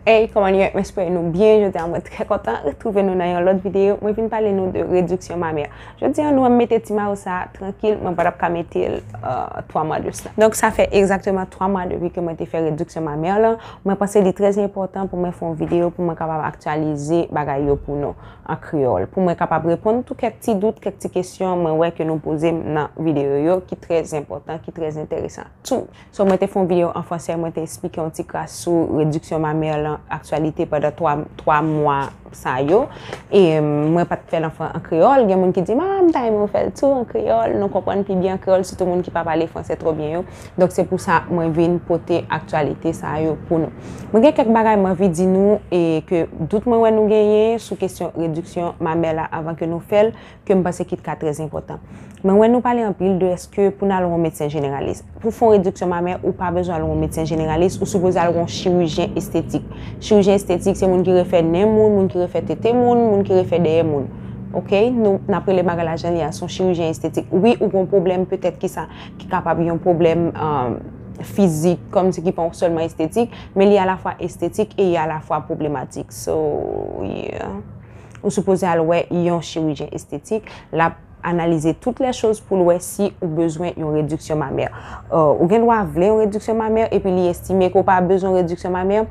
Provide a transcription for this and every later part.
Hey kòman nou ye mwen espere nou byen jodi a mwen trè kontan retwouve nou nan yon lòt videyo mwen vin pale nou de rediksyon mamè jodi a nou an mete ti mayo sa trankil mwen patap ka metel 3 mwa de sla donk sa fè egzakteman 3 mwa depi ke mwen te fè rediksyon mamè lan mwen panse li trè enpòtan pou mwen fè yon videyo pou mwen kapab aktyalize bagay yo pou nou an kreyòl pou mwen kapab reponn tou kèk ti dout kèk ti kesyon mwen wè ke nou pozem nan videyo yo ki trè enpòtan ki trè enteresan tou. So mwen te fè yon videyo an fransè mwen te esplike yon ti kras sou rediksyon mamè lan aktyalite pandan 3 mwa sa yo e mwen pat fèl an kreyòl gen moun ki dim ah m ta renmen ou fèl tou an kreyòl nou konprann pi byen an kreyòl sitou moun ki pa pale fransè twò byen yo donk se pou sa mwen vin pote aktyalite sa yo pou nou mwen gen kèk bagay m anvi di nou e ke dout mwen wè nou genyen sou kesyon rediksyon mamè la avan ke nou fèl ke m panse ki t ka trè enpòtan. Mwen wè nou pale anpil de eske pou n al wè yon medsen jeneralis. Pou fè yon rediksyon mamè, ou pa bezwen al wè yon medsen jeneralis, ou sipoze al wè yon chirijyen estetik. Chirijyen estetik se moun ki refè nen moun, moun ki refè tete moun, moun ki refè dèyè moun. Ok? Nou, n ap rele bagay la jan li a, se yon chirijyen estetik. Wi, ou gen yon pwoblèm petèt ki sa, ki kapab yon pwoblèm fizik, kòm si ki pa sèlman estetik, men li alafwa estetik e li alafwa pwoblematik. So, yeah. Ou sipoze al wè yon chirijyen estetik, lap analize tout lè choz poul wè si ou bezwen yon rediksyon mamè. Ou gen dwa vle yon rediksyon mamè epi li estime ke ou pa bezwen yon rediksyon mamè,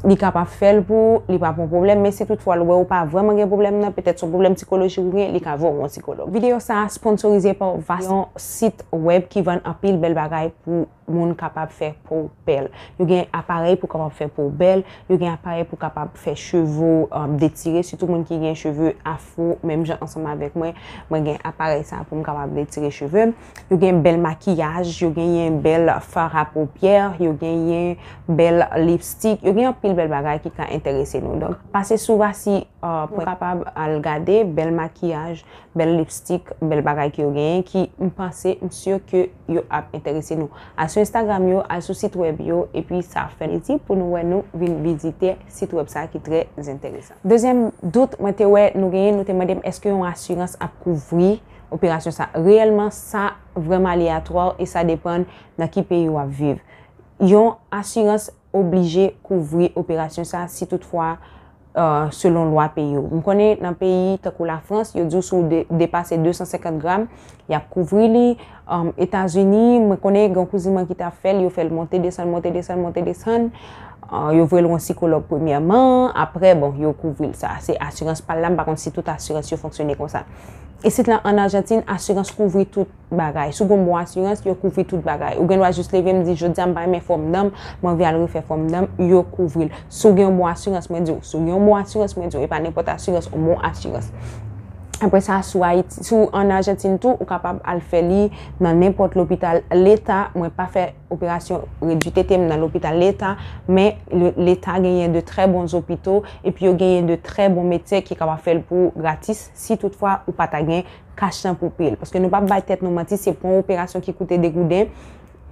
li kapab fèl pou ou, li pap yon pwoblèm, men si tout fwa l wè ou pa vrèman gen pwoblèm nan, petèt son pwoblèm sikolojik ou gen, li ka voye w wè yon sikològ. Video sa a sponsorize pa Vast, yon sit wèb ki vann anpil bèl bagay pou. moun kapab fè po w bèl. Yo gen aparèy pou kapab fè po w bèl, yo gen aparèy pou kapab fè cheve w detire, sitou moun ki gen cheve afro, menm jan ansanm avèk mwen, mwen gen aparèy sa pou m kapab detire cheve m. Yo gen bèl makiyaj, yo genyen bèl fard a popiè, yo genyen bèl lipstik, yo gen anpil bèl bagay ki ka enterese nou. Donk, pase sou vasi pou kapab al gade bèl makiyaj, bèl lipstik, bèl bagay ki yo genyen ki m panse m si ke. yo ap enterese nou. Al sou Instagram yo, al sou sit wèb yo, epi sa ap fè l itil pou nou wè nou vin vizitè sit wèb sa ki trè enteresan. Dezyèm dout mwen te wè nou genyen, nou te mande m èske yon asirans ap kouvri operasyon sa. Reyèlman, sa vrèman aleyatwa e sa depann nan ki peyi w ap viv. Yon asirans oblije kouvri operasyon sa si tout fwa selon lwa peyi ou. M konnen nan peyi tankou la Frans, yo di w si w depase 250 gram, y ap kouvri li. Etazini, mwen konnen gen yon kouzin mwen ki ta fè l, yo fè l monte desann, monte desann, monte desann, yo voye l wè yon sikològ premyèman, aprè bon, yo kouvri l. Sa se asirans pa l la, m pa konn si tout asirans yo fonksyone konsa. Isit la an Ajantin, asirans kouvri tout. bagay. Si w gen yon bon asirans, yo kouvri tout bagay. Ou gen dwa jis leve m di, jodi a m pa renmen fòm dan m, m anvi al refè fòm dan m, yo kouvri l. Si w gen yon bon asirans, mwen di w, si w gen yon bon asirans, mwen di w, e pa nenpòt asirans, yon bon asirans. Apre sa, si w Ayiti, si w an Ajantin tou, ou kapab al fè li nan nenpòt lopital Leta. Mwen pa fè operasyon redui tete m nan lopital Leta, men Leta genyen de trè bon zopito, epi yo genyen de trè bon medsen ki kapab fè l pou w gratis, si tout fwa ou pa ta gen. kach nan poupil. Paske nou pa bay tèt nou manti, se pou yon operasyon ki koute 2 gouden,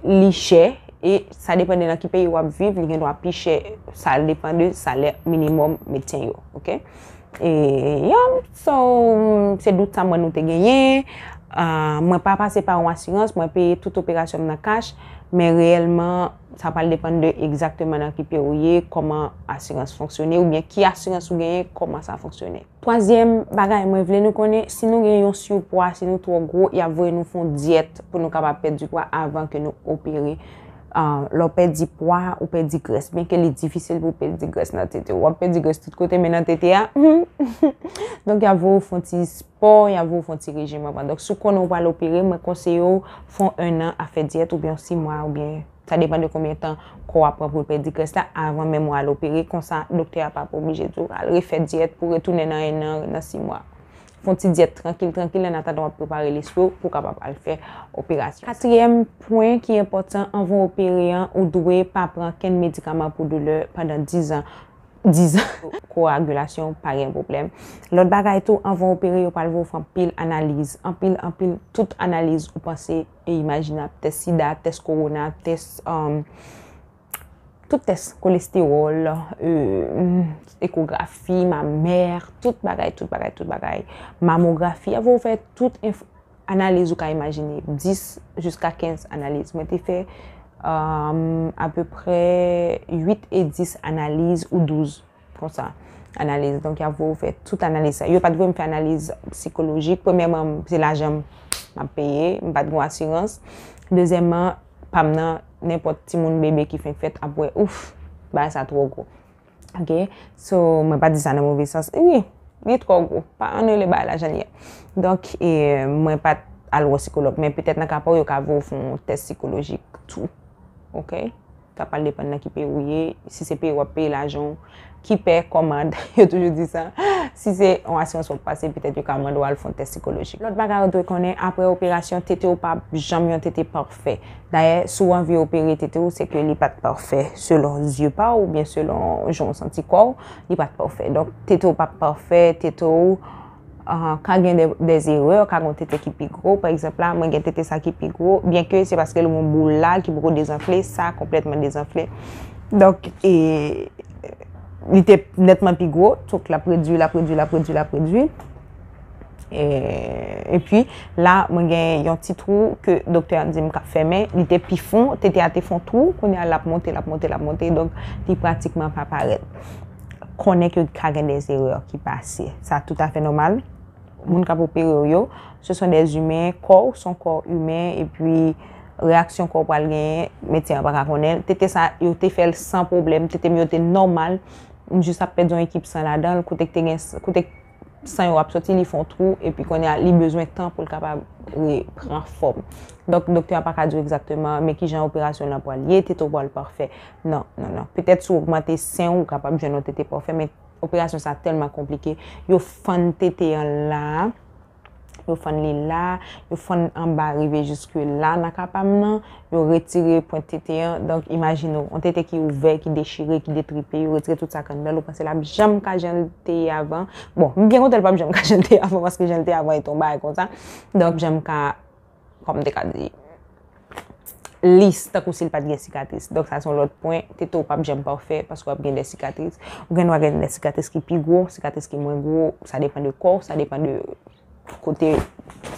li chè, e sa depan de nan ki peyi wap viv, li gen dwa pi chè, sa depan de salè minimòm medsen yo. Ok? E, ya, so, se dout sa mwen nou te genyen, mwen pa pase pa yon asirans, mwen peye tout operasyon m nan kach, men reyèlman, sa pral depan de egzakteman nan ki peyi ou ye, kòman asirans fonksyone, oubyen ki asirans ou genyen, kòman sa fonksyone. Twazyèm bagay mwen vle nou konnen, si nou gen yon surpwa, si nou twò gwo, yap voye nou fon dyèt pou nou kapab pèdi pwa avan ke nou opere. Lè w pèdi pwa, ou pèdi grès, byen ke li difisil pou w pèdi grès nan tete w. Wap pèdi grès tout kote men nan tete a, humm! Donk yap voye w fon ti spò, yap voye w fon ti rejim anvan. Donk si w konnen w pral opere, mwen konseye w fon 1 an a fè dyèt oubyen yon 6 mwa oubyen. Sa depan de konbyen tan kò a pran pou l pèdi grès la avan menm ou al opere, konsa doktè a pap oblije di w al refè dyèt pou retounen nan ennan, nan simwa. Fè yon ti dyèt trankil trankil annatandan w ap prepare lespri w pou w kapab al fè operasyon. Katriyèm pwen ki enpòtan, anvan w opere an, ou dwe pa pran kenn medikaman pou doulè pandan dizan. Dizan! Kowagilasyon w pa gen pwoblèm. Lòt bagay tou, anvan w opere yo pral voye w fè anpil analiz, anpil anpil, tout analiz ou panse e imajinab, tès sida, tès kowona, tès tout tès kolestewòl, ekografi, mamè, tout bagay, tout bagay, tout bagay, mamografi, avè ou fè tout analiz ou ka imajine, 10 jiska 15 analiz. Mwen te fè apeprè 8 e 10 analiz ou 12. Konsa, analiz. Donk, y ap voye ou fè tout analiz sa yo. Yo pa t voye m fè analiz sikolojik. Premyèman, se lajan m ap peye. M pa t gen yon asirans. Dezyèmman, pa m nan, nenpòt timoun bebe ki fenk fèt ap wè, ouf, bagay sa twò gwo. Ok? So, mwen pa di sa nan move sans. Wi, li twò gwo. Pa annou li bagay la jan li ye. Donk, mwen pa t al wè sikològ. Men, petèt nan ka pa w, yo ka voye ou fè yon tès sikolojik tou. Ok? Sa pral depann nan ki peyi ou ye. Si se peyi wap peye lajan ou, ki pè, kòmand, yo toujou di sa. Si se yon asirans wap pase, petèt yo ka mande w al fon tès sikolojik. Lòt bagay ou dwe konnen, apre operasyon, tete ou pap janm yon tete pafè. Dayè, si w anvi opere tete ou, se ke li pat pafè selon zye pa w, oubyen selon jan w santi kò w, li pat pafè. Donk, tete ou pap pafè, tete ou. Ka gen de erè, ka gen yon tete ki pi gwo. Pa egzanp la, mwen gen tete sa ki pi gwo. Byenke se paske l gen boul la ki poko dezanfle, sa konplètman dezanfle. Donk, li te netman pi gwo. Donk, l ap redui, l ap redui, l ap redui, l ap redui. E pi, la, mwen gen yon ti twou ke doktè a di m ka fèmen. Li te pi fon. Tete a te fon twou. Kounye a, l ap monte, l ap monte, l ap monte. Donk, li pratikman pa parèt. konnen ke ka gen des erreurs ki pase. Sa tout afe nomal. Moun kap opere ou yo, se son des humains, kò ou son kò humain, e pi reaksyon kò ou pral genyen, medsen an pa ka konnen. Tete sa, yo te fèl san problem, tete m yo te nomal, m jis ap pèdi yon ekip san ladan, kote k te gen, kote k. San yo ap soti li fon twou epi kounye a li bezwen tan pou l kapab repran fòm. Donk doktè a pa ka di w egzakteman men kijan operasyon lan pral ye, tete w pral pafè. Non, non, non. Petèt si w ogmante sen w, w kapab jwenn yon tete pafè men operasyon sa tèlman konplike, yo fann tete an la a, Yo fann li la, yo fann anba rive jiske la nan ka pa m nan, yo retire pwent tete an. Donk, imajine w, yon tete ki ouvè, ki dechire, ki detripe, yo retire tout sa k anndan l, ou panse l ap janm ka jan l te ye avan? Bon, m byen kontan l p ap janm ka jan l te ye avan paske jan l te ye avan e t yon bagay konsa. Donk, janm ka Kòm m te ka di. Lis, tankou si l pa t gen sikatris. Donk sa se yon lòt pwen. Tete w p ap janm pafè paske w ap gen de sikatris. Ou gen dwa gen de sikatris ki pi gwo, sikatris ki mwen gwo. Sa depan de kò w, sa depan de kote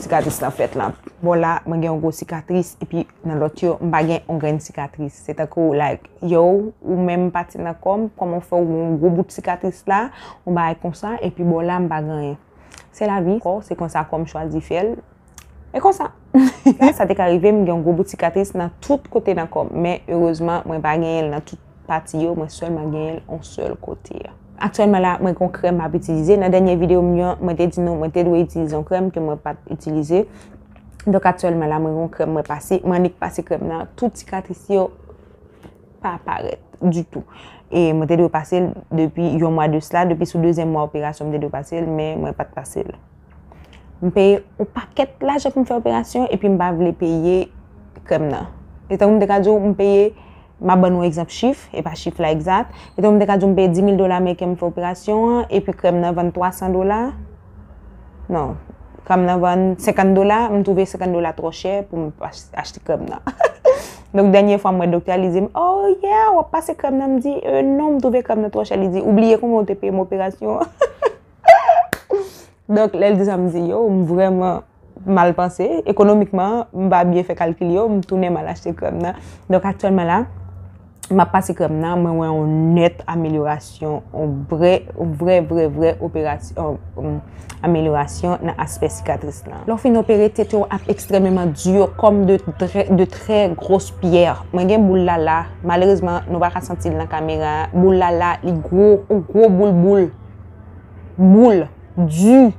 sikatris lan fèt lan. Bò la, mwen gen yon gwo sikatris epi nan lòt yo, m pa gen yon grenn sikatris. Se tankou like, yow, ou menm pati nan kò m, kòman w fè w gen yon gwo bout sikatris la, yon bagay konsa, epi bò la m pa gen anyen. Se la vi. Se konsa kò m chwazi fè l. E konsa. Sa te ka rive m gen yon gwo boutik atris nan tout kote nan kò m. Men erezman mwen pa genyen l nan tout pati yo. Mwen sèlman genyen l yon sèl kote. Aktyèlman la, mwen gen yon krèm m ap itilize. Nan dènye videyo m yo, mwen te di nou mwen te dwe itilize yon krèm ke mwen pa t itilize. Donk aktyèlman la, mwen gen yon krèm mwen pase. Mwen annik pase krèm nan tout sikatris yo. pa parèt ditou. E mwen te dwe pase l depi yon mwa de sla, depi sou dezyèm mwa operasyon mwen te dwe pase l, men mwen pa t pase l. M peye yon pakèt lajan pou m fè operasyon epi m pa vle peye krèm nan. Se tankou m te ka di w m peye, m ap ban nou egzanp chif, e pa chif la egzat, se tankou m te ka di w m peye 10 mil dola ameriken pou m fè operasyon an, epi krèm nan vann 300 dola. Non, krèm nan vann 50 dola, m twouve 50 dola twò chè pou m achte krèm nan. Donk dènye fwa m wè doktè a, li di m, oh yeah, w ap pase krèm nan? M di, euh non, m twouve krèm nan twò chè. Li di, ou bliye konbyen ou te peye m operasyon an? Donk lè l di sa, m di, yo, m vrèman. M al panse, ekonomikman, m pa byen fè kalkil yo, m tounen m al achte krèm nan. Donk aktyèlman la, m ap pase krèm nan, mwen wè yon nèt amelyorasyon, yon vrè, vrè, vrè, vrè operasyon, amelyorasyon nan aspè sikatris lan. Lè w fin opere, tete w ap ekstrèmeman dur, kòm de trè, de trè gwos pyè. Mwen gen boul la la, malerezman, nou pa ka santi l nan kamera a. Boul la la, li gwo, yon gwo boul boul. Boul. Dur.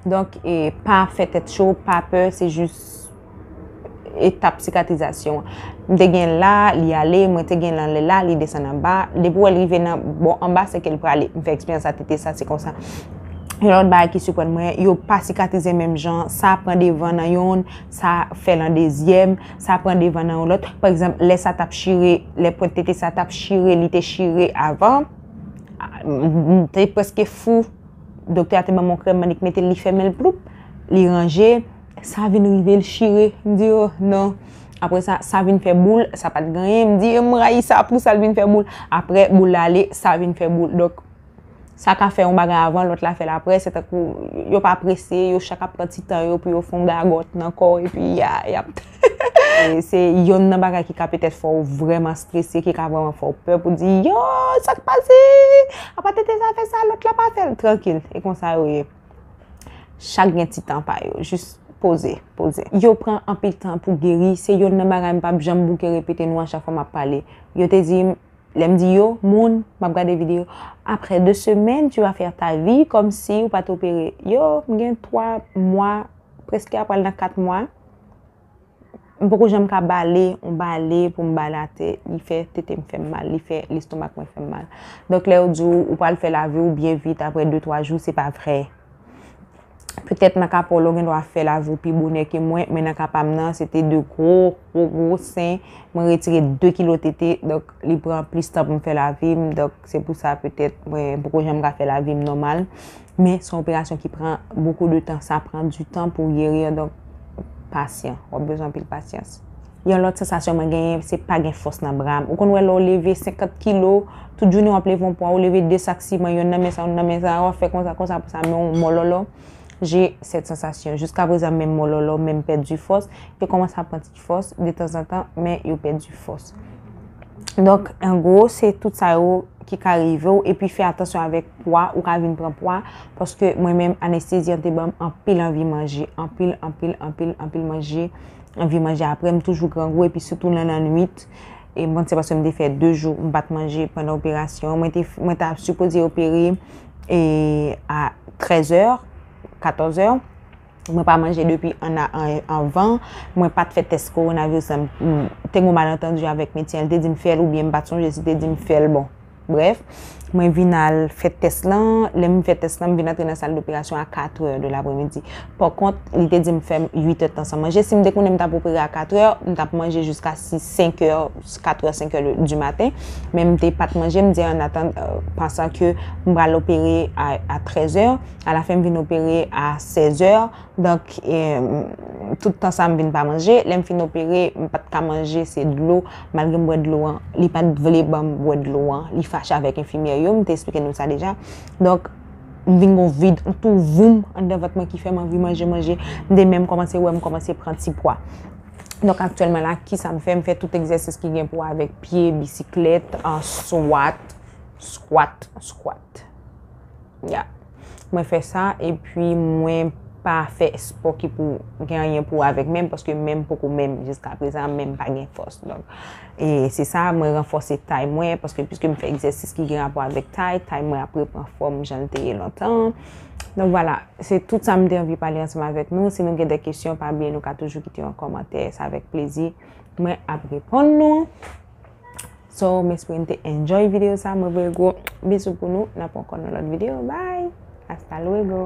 Donk e pa fè tèt cho, pa pè, se jis etap sikatrizasyon. M te gen la, li ale, mwen te gen lan lè la, li desann anba. Depi wè l rive nan bò anba, se ke l prale. M fè eksperyans sa, tete sa, se konsa. Yon lòt bagay ki siprann mwen, yo pa sikatrize menm jan. Sa pran devan nan youn, sa fè lan dezyèm, sa pran devan nan yon lòt. Pa egzanp, lè sa t ap chire, lè pwent tete sa t ap chire, li te chire avan, m te prèske fou. Doktè a te ban m yon krèm, m mande ki mete l, li fèmen l ploup, li ranje, sa vin rive l chire, m di oh non. Apre sa, sa vin fè boul, sa pa t griyen, m di m rayi sa, pou sa l vin fè boul. Apre boul la ale, sa vin fè boul. Donk, sa ka fè yon bagay avan, lòt la fè l apre, se tankou yo pa prese, yo chak ap pran ti tan yo pou yo fon gagòt nan kò, epi ya, yap. Se yonn nan bagay ki ka petèt fè w vrèman strese, ki ka vrèman fè w pè pou di, yo, sa k pase? A pa tete sa fè sa, lòt la pa fè l. Trankil, e konsa yo ye. Chak gen ti tan pa yo. Jis poze, poze. Yo pran anpil tan pou geri. Se yonn nan bagay m p ap janm bouke repete nou a chak fwa m ap pale. Yo te di m, lè m di yo, moun, m ap gade videyo, aprè de semèn, tu vas faire ta vie kòmsi ou pa t opere. Yo, m gen twa mwa, prèske apral nan kat mwa. M poko janm ka bale yon bale pou m bale atè. Li fè tete m fè m mal. Li fè lestomak mwen fè m mal. Donk lè yo di w ou pral fè lavi w byen vit apre 2, 3 jou, se pa vre. Petèt nan ka pa w la w gen dwa fè lavi w pi bonè ke mwen, men nan ka pa m nan, se te 2 gwo, gwo, gwo sen. Mwen retire 2 kilo tete. Donk li pran plis tan pou m fè lavi m. Donk se pou sa petèt mwen poko janm ka fè lavi m nòmal. Men, son operasyon ki pran bokou de tan, sa pran di tan pou gerir, donk pasyan, wap bezwen anpil pasyans. Yon lòt sansasyon mwen genyen, se pa gen fòs nan bra m. Ou konn wè lè w leve 50 kilo, tout jounen wap leve yon pwa, ou leve 2 sak siman, yonn nan men sa, yonn nan men sa, wap fè konsa, konsa, konsa, men w mòlòlò. J'ai cette sensation, jiska prezan menm mòlòlò, menm pèdi fòs, yo kòmanse ap pran ti. fòs detanzantan men yo pèdi fòs. Donk, an gwo, se tout sa yo ki ka rive ou epi fè atansyon avèk pwa, ou ka vin pran pwa paske mwen menm anestezi an te banm anpil anvi manje, anpil, anpil, anpil, anpil manje, anvi manje apre m toujou grangou epi sitou nan lannwit e m panse se paske m te fè 2 jou m pa t manje pandan operasyon mwen te mwen ta sipoze opere e a 13 è, 14 è. Mwen pa manje depi 1 a 1 è anvan. Mwen pat fè tès kowonaviris lan. Te gen yon malantandu avèk medsen an. Li te di m fè l oubyen m pat sonje si li te di m fè l. Bon, brèf, mwen vin al fè tès lan. Lè m fè tès lan, m vin antre nan sal doperasyon a 4 è de lapremidi. Pò kont, li te di m fè m 8 è de tan san manje. Si m te konnen m t ap opere a 4 è, m t ap manje jiska 6, 5 è, 4 è, 5 è di maten. Men m te pat manje, m di an atandan, pansan ke m pral opere a 13 è. A la fen m vin opere a 16 è, donk tout tan sa m vin pa manje. Lè m fin opere, m pa t ka manje, se dlo. Malgre m bwè dlo an, li pa t vle ban m bwè dlo an. Li fache avèk enfimyè yo, m te esplike nou sa deja. Donk, m vin gon vid, m tou voum anndan vant mwen ki fè m anvi manje manje. M te menm kòmanse wè m kòmanse pran ti pwa. Donk, aktyèlman la, ki sa m fè? M fè tout egzèsis ki gen pou wè avèk pye, bisiklèt, swat, skwat, skwat. Ya. Mwen fè sa epi mwen pa fè espò ki pou gen anyen pou wè avèk men m paske men m poko men m jiska prezan men m pa gen fòs donk e se sa mwen ranfòse tay mwen paske piske m fè egzèsis ki gen rapò avèk tay tay mwen ap repran fòm jan l te ye lontan an donk vwala se tout sa m te anvi pale ansanm avèk nou si nou gen dè kesyon pa bliye nou ka toujou kite yon kòmantè se avèk plezi mwen ap reponn nou. So, m espere n te enjoy video sa. Mwen voye gwo bisou pou nou. N ap ankò nan lòt video. Bye! Hasta luego!